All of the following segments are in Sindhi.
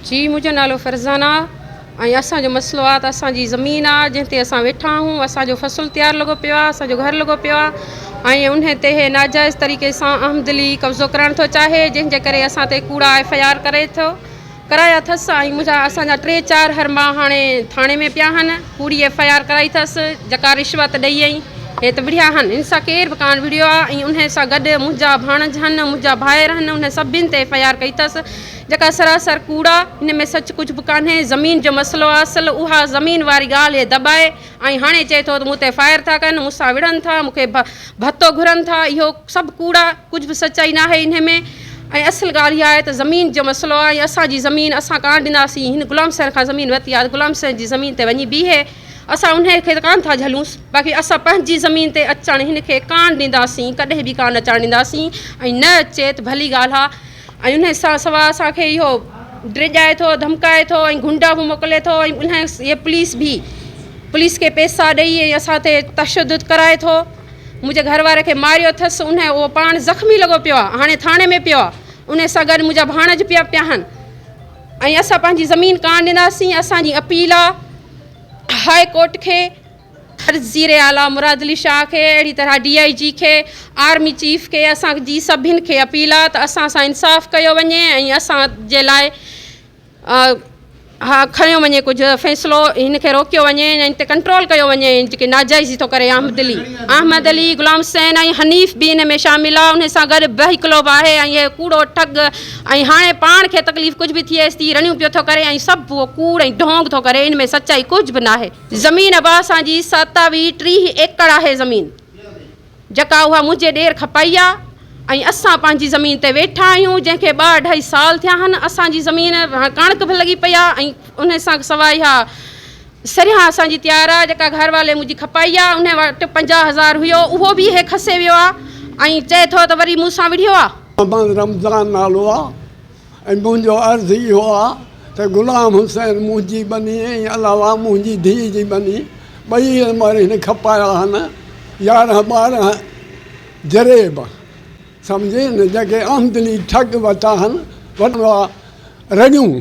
جي منهنجو نالو فرزان آ ۽ اسان جو مسئلو آ ته اسان جي زمين آ جنهن تي اسان ويٺا آهون اسان جو فصل تيار لڳو پيو آ اسان جو گهر لڳو پيو آ ۽ انهي تي هي ناجائز طريقي سان احمدلي قبضو ڪرڻ ٿو چاهي جنهن جي ڪري اسان تي ڪوڙا ايف آء آر ڪري ٿو ڪرايا ٿس ۽ منهنجا اسان جا ٽي چار هرما هاڻي ٿاڻي ۾ پيا هن ڪوڙي ايف آء آر ڪرائي ٿس جڪا رشوت ڏئي ۽ هي ته وڙهيا هن هن سان ڪير به ڪان وڙهيو آ ۽ انهي سان گڏ منهنجا ڀاڻج هن منهنجا ڀائر هن انهن سڀين تي ايف آء آر ڪئي ٿس جيڪا سراسر ڪوڙ آ ان ۾ سچ ڪجھ به ڪانهي زمين جو مسئلو آ اصل اها زمين واري ڳالهه هي دٻائي ۽ هاڻي چئي ٿو ته مون تي فائر ٿا ڪن مون سان وڙهن ٿا مون کي ڀتو گهرن ٿا اهو سڀ ڪوڙ آ ڪجھ به سچائي ناهي انهي ۾ ۽ اصل ڳالهه اها آهي ته زمين جو مسئلو آ ۽ اسان جي زمين اسان ڪانه ڏناسين هن غلام حسين کان زمين ورتي آ ته غلام حسين جي زمين تي وڃي بيهي اسان انهي کي ته ڪانه ٿا جهلونس باقي اسان پنهنجي زمين تي اچڻ هن کي ڪانه ڏينداسين ڪڏهن به ڪانه اچڻ ڏينداسين ۽ نه اچي ته ڀلي ڳالهه آ ۽ ان سان سوا اسان کي اهو ڊيڄائي ٿو ڌمڪائي ٿو ۽ گنڊا به موڪلي ٿو ۽ ان هي پوليس به پوليس کي پيسا ڏئي ۽ اسان تي تشدد ڪرائي ٿو منهنجي گهر واري کي ماريو اٿس ان اهو پاڻ زخمي لڳو پيو آهي هاڻي ٿاڻي ۾ پيو آهي ان سان گڏ منهنجا ڀاڻج پيا پيا آهن ۽ اسان پنهنجي زمين ڪانه ڏناسين اسانجي اپيل آهي هاء ڪورٽ کي وزيراعليٰ مراد علي شاهه کي اهڙي طرح ڊي آء جي کي آرمي چيف کي اسان جي سڀن کي اپيل آ ته اسان سان انصاف ڪيو وڃي ۽ اسان جي لاء اها کڻيو وڃي ڪجهه فيصلو هن کي روڪيو وڃي ۽ ان تي ڪنٽرول ڪيو وڃي ۽ جيڪي ناجائزي ٿو ڪري احمد علي احمد علي غلام حسين ۽ حنيف به ان ۾ شامل آ ان سان گڏ به هڪلو به آهي ۽ اهي ڪوڙو ٺڳ ۽ هاڻي پاڻ کي تڪليف ڪجهه به ٿئيس ٿي رڙيون پيو ٿو ڪري ۽ سڀ اهو ڪوڙ ۽ ڍونگ ٿو ڪري ان ۾ سچائي ڪجهه به ناهي. زمين ابا اسان جي ستاوي ٽيهه ايڪڙ آهي زمين جڪا اها منهنجي ڏير کپائي آ ۽ اسان پنهنجي زمين تي ويٺا آهيون جنهن کي ٻه اڍائي سال ٿيا آهن اسان جي زمين ڪڻڪ به لڳي پئي آ ۽ انهي سان سواء اها سريان اسان جي تيار آ جڪا گهر والي منهنجي کپائي آ انهي وٽ پنجاهه هزار هيو اهو به اهي کسي ويو آ ۽ چئي ٿو ته وري مون سان وڙهيو آ. محمد رمضان نالو آ ۽ منهنجو عرض اهو آ ته غلام حسين منهنجي ٻني ۽ علاوه منهنجي ڌيء جي ٻني ٻئي عمر هن کپايا هن يارهن ٻارهن جريب سمجهين جيڪي آمدني ٺڳ وتا هن وٽان رڳيون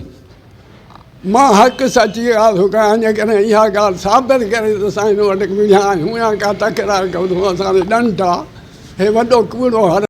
مان حق سچي آرزو ڪيان جيڪڏهن اها ڳالهه ثابت ڪري ته اسان هن وٽ ڪوڙيا آهيون يا ڪا تڪرار ڪيو اٿئون اسان تي ڏنڊ آ هي وڏو ڪوڙو هر